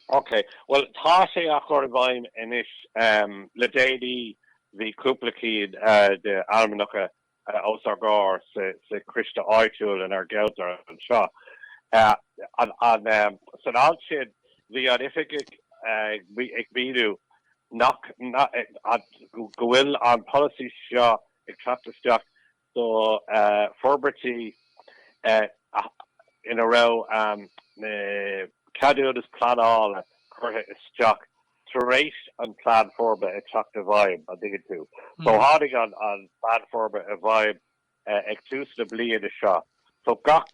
OK, bhuel tá sé á chur i bhfeidhm anois. Le déanaí bhí cúpla cinn de ainmneacha os ár gcomhair sa choiste áitiúil inár gceantar anseo. San am sin bhí an t-oifigeach ag míniú nach, go bhfuil an polasaí seo ag teacht isteach so forbairtí ina raibh na ceadúnais pleanála curtha isteach tar éis an Plean Forbartha a theacht i bhfeidhm, an dtuigeann tú. So tháinig an Plean Forbartha i bhfeidhm ag tús na bliana seo, so gach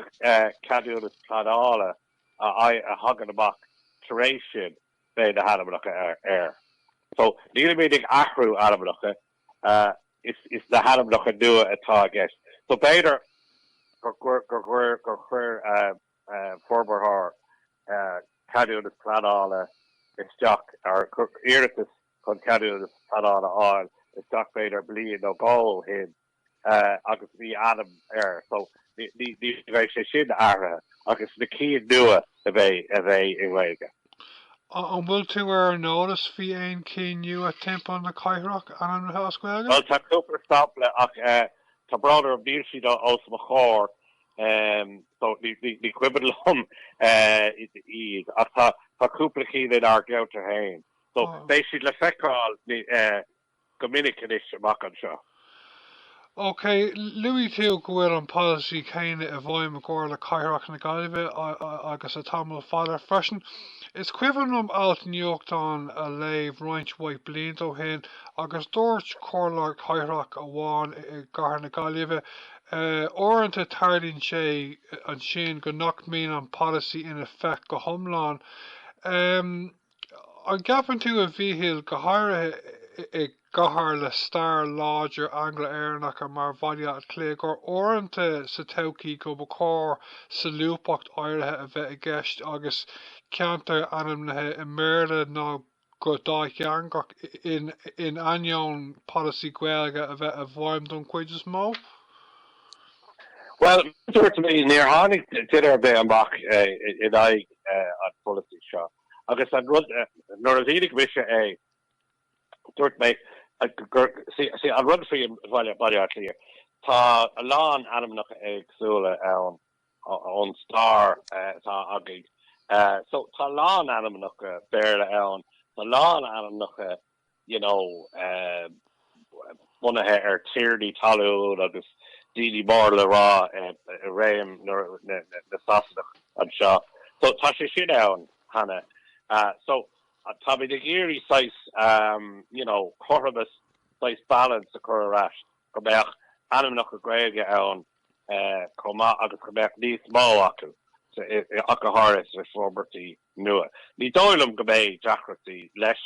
ceadúnas pleanála a thagann amach tar éis sin, beidh na hainmneacha air. So nílimid ag athrú ainmneacha, is na hainmneacha nua atá i gceist so b'fhéidir gur chuir forbarthóir ceadúnas pleanála isteach or iarratas chun ceadúnas pleanála a fháil isteach b'fhéidir bliain nó dhó ó shin eh, agus bhí ainm air so ní, ní, ní bheidh sé sin athraithe agus na cinn nua a bheidh, a bheidh i nGaeilge. A, an bhfuil tú ar an eolas faoi aon chinn nua timpeall na cathrach ainmnithe as Gaeilge? Bhuel tá cúpla sampla ach eh, tá brón orm níl siad os mo chomhair em so ní, ní, ní cuimhin liom eh, iad ach tá, tá cúpla cinn inár gceantar féin so Ó. beidh siad le feiceáil ní eh, go minic anois amach anseo. OK, luaigh tú go bhfuil an polasaí céanna i bhfeidhm i gComhairle Cathrach na Gaillimhe agus le tamall fada freisin. Is cuimhin liom ailt nuachtáin a léamh roinnt mhaith blianta ó shin agus dúirt Comhairleoir Cathrach amháin i gcathair na Gaillimhe, Uaireanta tarlaíonn sé ansin go nach mbíonn an polasaí in effect go hiomlán. An gceapann tú, a Mhíchíl, go háirithe i gcathair le stair láidir Angla-Éireannacha mar Bhaile Átha Cliath, gur uaireanta sa todhchaí go mba chóir solúbthacht áirithe a bheith i gceist agus ceantair ainmnithe i mBéarla nó go dátheangach, in ainneoin polasaí Gaeilge a bheith i bhfeidhm don chuid is mó? Bhuel, mar a dúirt mé, níor tháinig duine ar bith amach in aghaidh an polasaí seo agus an rud, nuair a mhínigh mise é, dúirt mé gur, see, an rud faoi Bhaile Átha Cliath, tá a lán ainmneacha éagsúla ann ón stair atá againn, so, tá a lán ainmneacha Béarla ann, tá a lán ainmneacha you know, bunaithe ar tiarnaí talún agus daoine mór le rá i réim na Sasanach anseo. So tá sé sin ann cheana. So táimid ag iarraidh saghas, you know, cothromas, saghas balance a chur ar ais, go mbeadh ainmneacha Gaeilge ann chomh maith agus go mbeadh níos mó acu, ach go háirithe sna forbairtí. nua. Ní dóigh liom go mbeidh deacrachtaí leis.